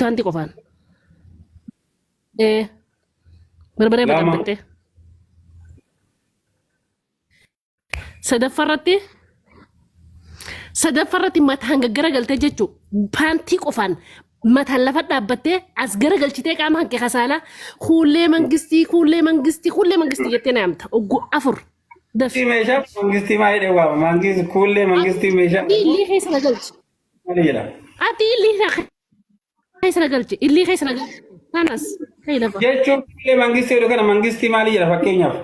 Taanti qofaan. Ee. Barbaree Lama. baqaqxee. Sadaffaa irratti. Sadaffaa irratti mataan gaggara galtee jechuun paantii qofaan mataan lafa dhaabbattee as gara galchitee qaama hanqe kasaalaa kuullee mangistii kuullee mangistii kuullee mangistii jettee naamta ogguu afur dafi. Mangistii meeshaa mangistii maa jedhee waama mangistii kuullee mangistii meeshaa Ati illee keessa na galchi. maal jedhama? Ati illee na Keessa na galche. Illii keessa na galche. Kanas. Kee lafa. Jechuun illee mangistii jedhu kana mangistii maali jedha fakkeenyaaf.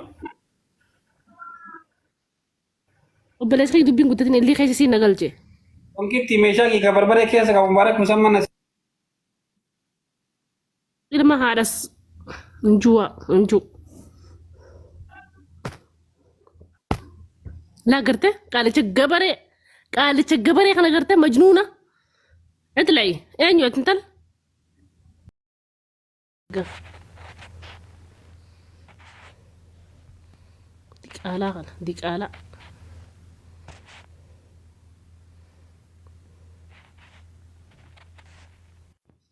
Obboleessa kee dubbiin guddatin illii keessa siin na galche. Wankitti meeshaa giigaa barbaree keessa qabu mubaarak musamman Ilma haadhas njuwa nju. Laa gartee qaalicha gabaree qaalicha gabaree kana gartee majnuuna itla'i eenyu ati intala gaf diqaalaa kana diqaalaa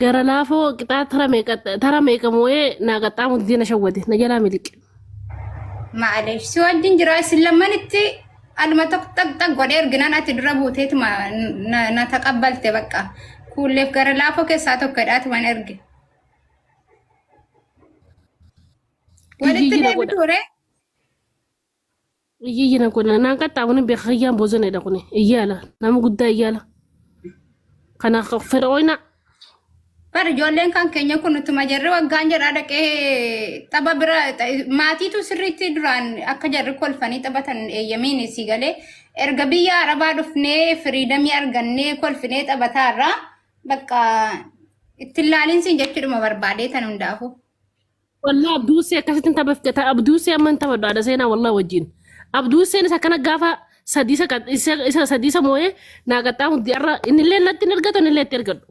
Gara laafoo qixaa tara meeqa tara meeqa moo'ee naa qaxxaamu didee na shawwade na jalaa miliqe. Maaleef si wajjin jira isin lammanitti aluma tokko xaq xaq godhee erginaan ati dura buuteetuma na na taqabbalte bakka kuulleef gara laafoo keessaa tokko hidhaatuman erge. Walitti Jijjiirra godha. deebitu ree Iyyiyyi na godha. Naan qaxxaamurin beeka kiyyaan boozoneedha kuni. Iyyaala. Nama guddaa iyyaala. Kana fir'ooyna Bar ijoolleen kan keenya kun utuma jarri waggaan jedhaa dhaqee tapha bira ta- maatiitu sirriitti duraan akka jarri kolfanii taphatan eeyyamiin isii galee erga biyya arabaa dhufnee firiidamii argannee kolfinee taphataarraa bakka ittiin laaliinsiin jechuudhuma barbaadee tan hundaafuu. Wallah abduusee akkasitti hin taphafte ta abduusee amma hin taphadhu haadha seenaa wallah wajjin. Abduuseen isa kana gaafa sadii isa qad- isa isa sadii isa moo'ee naa qaxxaa hundi har'a innillee natti hin ergatu innillee itti ergadhu.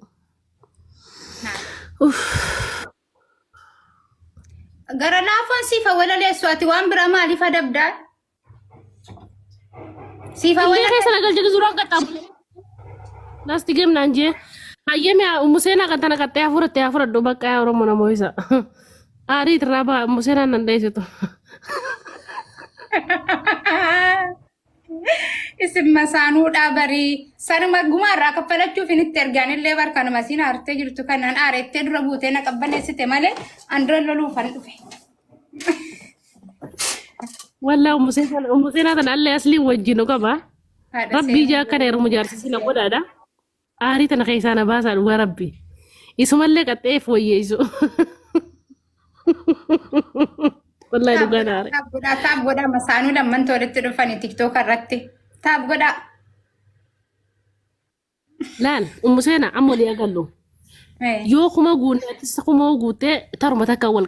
Uff. Gara laafoon siifa walaleessu ati waan bira maaliif adabdaa? Siifa Illee wala keessa na galchite suuraa qaxxaamu. Lasti gem naan jee. Hayyame museenaa kan tana qaxxee hafuuratte hafuuradhu bakka yaa Oromoo namoo isa. Aarii irraa baa museenaan nan dheessitu. isin masaanuudhaa barii sanuma gumaa irraa kaffalachuuf hin itti ergaan illee bar kanuma siin aartee jirtu kanaan aareettee dura buutee na qabbaneessite malee an dura loluufan dhufe. Wallah ummu seenaa ummu seenaa tana allee asliin wajjin nu qaba. Haadha Rabbii seenaa ijaa akkana heerumu jaarsisii na godhaadha. Aarii tana keessaa na baasaa dhugaa rabbi. Isumallee qaxxeef wayyeessu. Wallahi taab dhugaa godhaa naare. taab godhaa taab godhaa masaanuu lammantu walitti dhufanii tiktook irratti taab godhaa Laal ummu seenaa amma olii agallu. Eh. Yoo kuma guunne ati isa kuma guuttee taruma takka wal